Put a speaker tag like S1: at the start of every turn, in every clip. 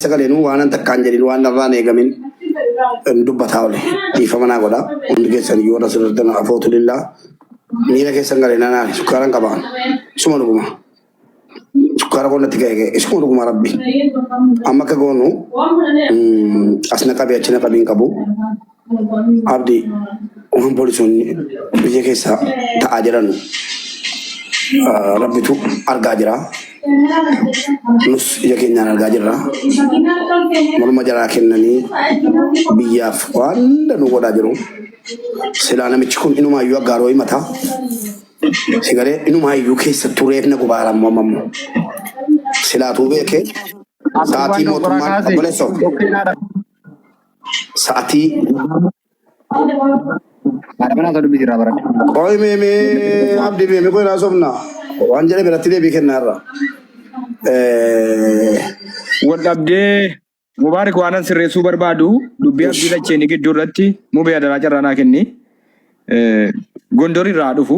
S1: Sagaleen waanan takkaan jedhin waan narraan eegamin hin dubbataa ole dhiifama naa godha hundi keessan yoo na sirriitan afootu lillaa miira keessan galee na naani sukkaaran qaba suma dhuguma sukkaara qonna itti ga'e ga'e suma dhuguma rabbi amma akka goonu mm, as na qabi achi na qabi hin qabu Abdi waan poolisoonni biyya keessaa ta'aa jiran rabbitu argaa jira. Nus ija keenyaan argaa jirra. Morma jaraa kennanii biyyaaf waan hunda nu godhaa jiru. Silaa namichi kun inumaa iyyuu aggaaroo himata. Sigalee inumaa iyyuu keessattuu reefna gubaara ammoo amma ammoo. Silaatuu beekee Abdi waan sa'aatii nu qoraa mootummaan kaase obboleessoo. tokkeenyaadha. Sa'atii. Maadamana osoo dubbisi irraa baradhe. Qoy meeme abdi meeme qoy naa sobna. Waan jedhe biratti deebii kennaa irra.
S2: Wal dhabdee Mubaarik waanan sirreessuu barbaadu dubbii abdii lacheeni gidduu irratti mubee adaraa carraa naa kenni. Gondor irraa dhufu.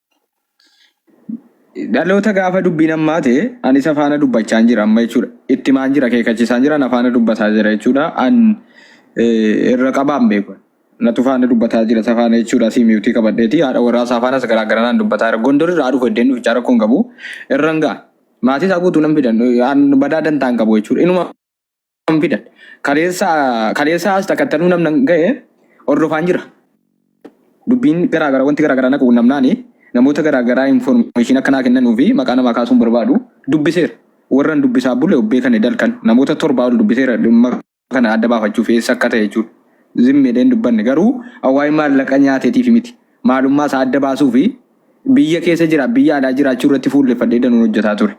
S2: Dhaloota gaafa dubbiin ammaate an isa faana dubbachaan jira amma jechuudha. Ittimaan jira keekachisaan jira na faana dubbataa jira jechuudha. An eh, irra qabaan beeku. Natu faana dubbataa jira isa faana jechuudha. Asii miiwtii qabadheeti haadha warraa isaa faanas garaa garaa naan dubbataa jira. Gondor irraa dhufu iddeen dhufichaa rakkoon qabu irra hin ga'a. Maatii isaa guutuu nan fidan eh, an badaa dantaan qabu jechuudha. Inuma kan fidan. Kaleessa kaleessa as takkattanuu namna ga'e hordofaan jira. Dubbiin garaa garaa wanti garaa garaa naqu namnaani namoota garaa garaa information akkanaa kennanuu fi maqaa namaa kaasuun barbaadu dubbiseera. Warran dubbisaa bule obbee kan dalkan namoota torbaa ol dubbiseera dhimma kana adda baafachuuf eessa akka ta'e jechuudha. Zimmeedhee hin dubbanne garuu waa'ee maallaqa nyaateetiif miti. Maalummaa isaa adda baasuu fi Biyya keessa jira, biyya alaa jiraachuu irratti fuulleffadhee danuun hojjetaa ture.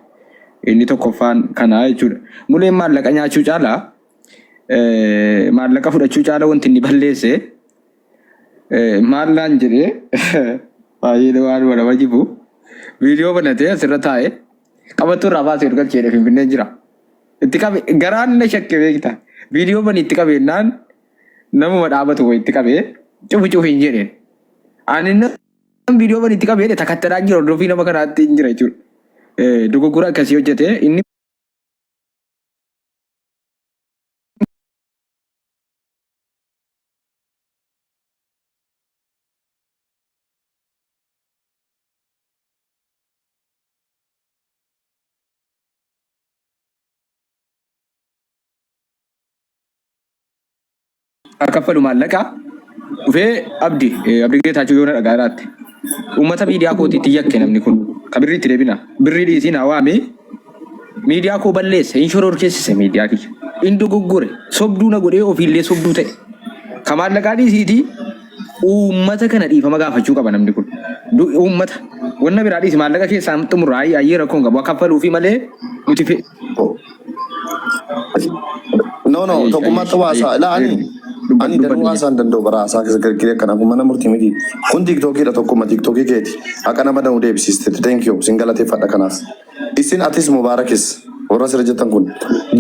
S2: Inni tokkoffaan kanaa jechuudha. Muleen maallaqa nyaachuu caala maallaqa fudhachuu caala wanti inni balleesse maal naan jedhee baay'ee waan wal nama jibu viidiyoo banatee asirra taa'e qabattuu irraa baasee ol galcheedha finfinnee jira. Itti qabe garaan na shakke beekta. Viidiyoo bani itti qabeennaan namuma dhaabatu itti qabee cufi cufi hin jedheen. Ani Kan viidiyoo bani itti qabee takattadhaa hin jiru hordofii nama kanaatti hin jira jechuudha. Eh, Dogoggora akkasii hojjete inni haa kaffalu maallaqaa dhufee abdi eh, abdi geetaachuu yoo na dhagaa irraatte uummata miidiyaa kootiitti yakke namni kun ka birrii itti deebina birrii dhiisiin haa waamee miidiyaa koo balleesse hin shororkeessise miidiyaa kiyya hin dogoggore sobduu na godhee ofiillee sobduu ta'e ka maallaqaa dhiisiitii uummata kana dhiifama gaafachuu qaba namni kun Du- uummata wanna biraa dhiisi maallaqa keessaa xumurraa ayyee rakkoon qabu haa kaffaluu fi malee nuti fe-
S3: No no Ayyee tokkummaa ayyee qabu ayyee haasaa ilaa ani eermi dubbat ani dubbat danuu ayyee haasaa hin danda'u bara haasaa keessa gargiree kana kun mana murtii miti kun tiiktookiidha tokkuma tiiktookii keeti haqa nama danuu deebisiistetti thank you sin galateeffadha kanaaf isin atis mubaarakis warra sirra jettan kun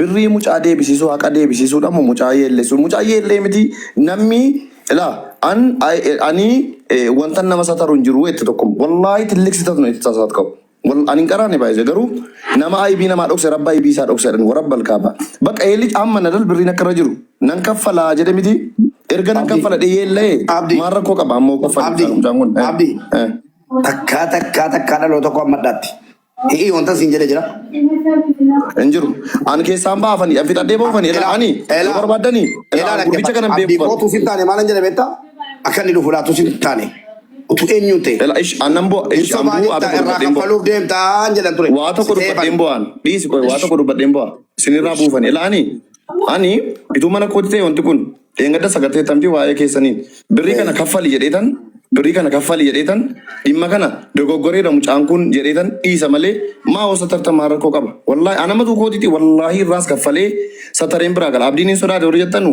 S3: birrii mucaa deebisiisuu haqa deebisiisuu dhamu mucaa yeelleessu mucaa yeellee miti namni ilaa an ani eh, wanta nama sataru hin jiru jette tokkum wallaahi tilliksitatnu itti tasaat qabu Wal ani hin qaraane baay'ise garuu nama aybii namaa dhokse rabba aybii isaa dhokse jedhan warabba alkaaba. Bakka eelli amma na dal birriin akka irra jiru nan kaffalaa jedhe miti erga nan Abdi, kaffala dhiyee illee Abdi, maal rakkoo qaba ammoo kaffaluu Abdi, isaan mucaan kun. Eh, Abdi,
S1: eh. takkaa takkaa takkaa dhaloo tokko ammadhaatti. Hi'ii wanta siin jedhe jira.
S3: Hin jiru. Ani keessaan baafanii an fixadhee boofanii irra Elaa, ani yoo elaa, barbaaddanii elaa elaa gurbicha dhaggeeffadha. kanan Abdi beeku kootu sitti taane maalan
S1: jedhe beektaa? Akka inni dhufu laatu sitti taane. Utuu eenyuun ta'e? Lala ish aannan bu'a ish Hin ambuu waa
S3: sobaanitta tokko irraa dubbadheen bu'a. kaffaluuf deemtaan jedhan ture. Waa tokko Siseefan. dubbadheen bu'aan dhiisi qoy waa tokko dubbadheen bu'a isinirraa buufan ila ani ani ituu mana kooti ta'e wanti kun dheengadda sagartee tamti waa'ee keessaniin birrii kana kaffali jedheetan birrii kana kaffali jedheetan dhimma kana dogoggoreedha mucaan kun jedheetan dhiisa malee maa hosa tartamaa rakkoo qaba wallaahi anamatu kootiti wallaahi irraas kaffalee satareen biraa gala abdiin hin sodaate warri jettanu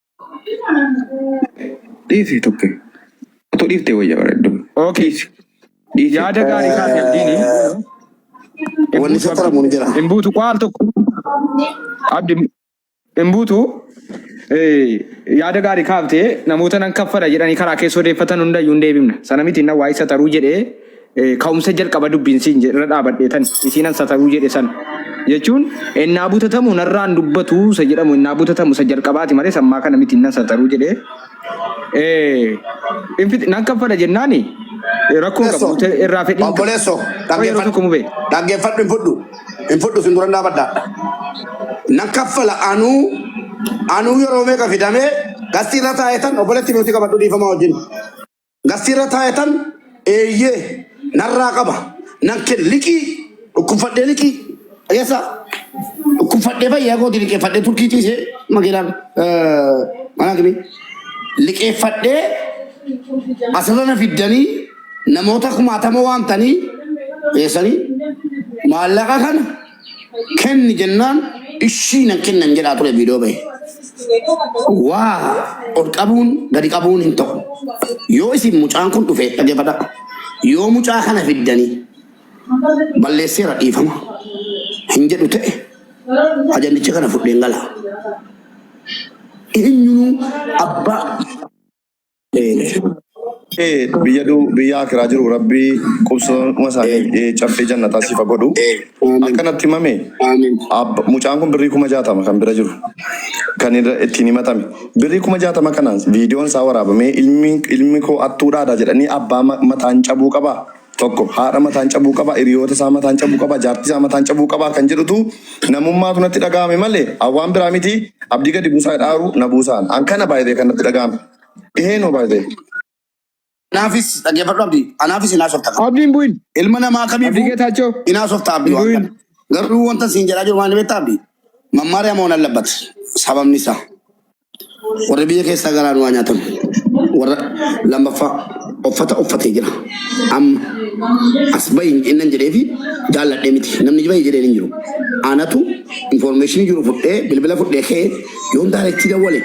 S2: Dhiisi tuqi. Otoo dhiiftee wayya bareeddu. Okay. Dhiisi. Dhiisi. Yaada gaarii kaate abdiini.
S1: Wanni si qoramu ni jira. Hin buutu qo'aal tokko.
S2: Abdi hin buutu. Eh, Yaada gaarii kaaftee namoota nan kaffala jedhanii karaa keessa odeeffatan hundayyuu hin deebifna. Sana miti inni waa'ee sataruu jedhee Ka'umsa jalqaba dubbiin siin jedhe irra dhaabadhee tan isiin an sataruu jedhe san jechuun ennaa butatamu narraan dubbatu isa jedhamu ennaa butatamu isa jalqabaati malee sammaa kana miti nan sataruu jedhe nan kaffala jennaani rakkoon qabu Obboleessoo, nuti irraa fedhiin qabu. obboleessoo, Qoy yeroo dhaggeeffadhu,
S1: tokko mubee. dhaggeeffadhu hin fudhu, hin fudhu sin duran dhaabadha. Nan kaffala anuu, anuu yeroo meeqa fidamee qastii irra taa'ee tan obboleetti nuti qabadhu dhiifama wajjin. Gastiirra taa'etan eeyyee narraa qaba nan ken liqii dhukkubfadhee liqii dhageessaa dhukkubfadhee fayyaa kooti liqeeffadhee turkii ciisee makiinaan manaa kimi liqeeffadhee asirra na fiddanii namoota kumaatama waamtanii dhiyeessanii maallaqa kana kenni jennaan ishii nan kenna hin jedhaa ture viidiyoo bahe. Waa ol qabuun gadi qabuun hin ta'u. Yoo isin mucaan kun dhufe dhaggeeffadha. Yoo mucaa kana fiddanii balleesseera dhiifama hin jedhu ta'e ajandicha kana fudheen gala. Eenyunuu abbaa
S3: biyya du biyya akiraa jiru rabbii qubsuma isaanii caffee jannataa siif haa godhu akkanatti himame ab- mucaan kun birrii kuma jaatama kan bira jiru kan irra ittiin himatame birrii kuma jaatama kana viidiyoon isaa waraabamee ilmi ilmi koo attuudhaadha jedhanii abbaa ma- mataan cabuu qabaa tokko haadha mataan cabuu qaba, hiriyoota isaa mataan cabuu qaba, jaartii isaa mataan cabuu qaba kan jedhutu namummaatu natti dhaga'ame malee an waan biraa miti abdii gadi buusaa jedhaaru na buusaan. An kana baay'ee kan natti dhaga'ame. Ihee noo baay'ee. Anaafis
S1: dhaggeeffadhu Abdi. Anaafis hin haasofta kana. Abdiin bu'in. Ilma
S2: namaa Abdii kamiifuu
S1: Geetaachoo. hin haasofta Abdi Hin waan bu'in. kana. Garuu wanta siin jedhaa jiru maal beektaa Abdi? Mammaariyaa moo nan labbata? Sababni isaa. Warri biyya keessaa garaan waa nyaatan. Warra lammaffaa uffata uffatee jira. Amma as bahi hin jennan jedhee fi jaalladhee miti. Namni bahi jedheen hin jiru. Anatu information jiru fudhee bilbila fudhee ka'ee yoon daareetti dawwale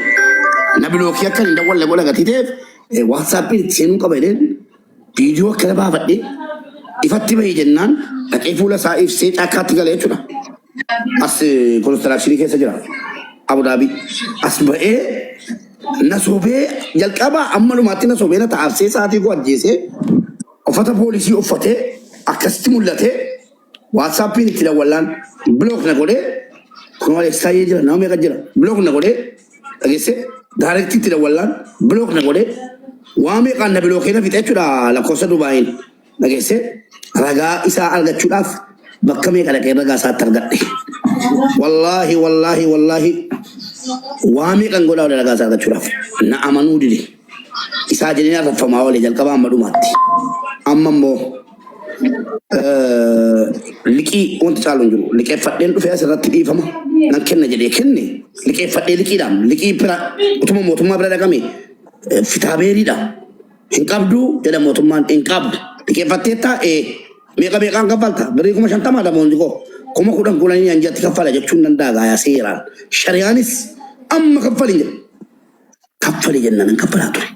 S1: na bilookii akka hin dawwalle godha gatii ta'eef eh, WhatsApp itti seenuu qaba jedheen Viidiyoo akkana baafadhee ifatti bahi jennaan dhaqee fuula isaa ibsee caakkaatti gale jechuudha. As konistiraakshini keessa jira. Abudaabii. As ba'ee na sobee jalqabaa amma dhumaatti na sobee na ta'aabsee sa'aatii koo ajjeesee uffata poolisii uffatee akkasitti mul'atee Whatsappin itti dawwallaan block na godhee kunoo Alex Taayyee jira nama meeqa jira block na godhee dhageesse direct itti dawwallaan block na godhee waa meeqaan na bilookee na fixe jechuudha lakkoofsa Dubaayiin dhageesse ragaa isaa argachuudhaaf bakka meeqa dhaqee ragaa isaatti argadhe. Wallaahi wallaahi wallaahi waa meeqan godhaa wali ragaa isaa argachuudhaaf na amanuu dide. Isaa jedhee arraffamaa oole jalqabaa amma dhumaatti. Amma immoo liqii wanti caalu hin jiru. Liqeeffadheen dhufee asirratti dhiifama nan kenna jedhee kenne liqeeffadhee liqiidhaan liqii bira utuma mootummaa bira dhaqame eh, fitaabeeriidha. Hin qabdu jedha mootummaan hin qabdu. Liqeeffatteettaa ee meeqa meeqaan kaffalta birrii kuma shantamaa damoonni koo kuma kudhan kudhanii anjatti kaffala jechuun danda'aa seeraan shariyaanis amma kaffalin jedha. kaffali jennaan hin kaffalaa ture.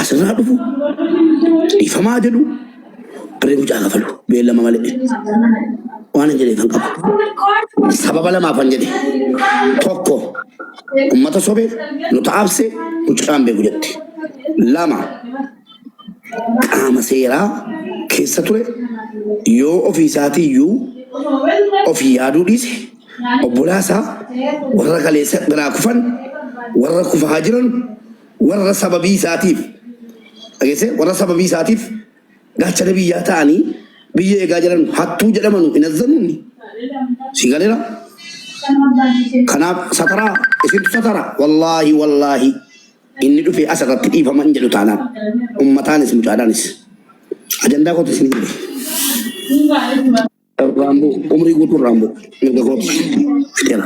S1: Asirraa dhufu dhiifamaa jedhu birrii mucaa kafalu beellama malee waan hin jedheef hin qabu. Sababa lamaaf kan jedhe tokko ummata sobe nu taabse mucaan beeku jette. Lama qaama seeraa keessa ture yoo ofii isaatiiyyuu of yaaduu dhiise obbolaa isaa warra kaleessa biraa kufan, warra kufaa jiran, warra sababii isaatiif dhageessee warra sababii isaatiif gaachana biyyaa ta'anii biyya eegaa jiran hattuu jedhamanu hin azzanunni si galera kanaaf sataraa isintu satara wallaahi wallaahi Inni dhufee as irratti dhiifama hin jedhu taanaan ummataanis mucaadhaanis ajandaa kootu isin hin jedhu. Raamboo umrii guutuu raamboo mirga kootu fixeera.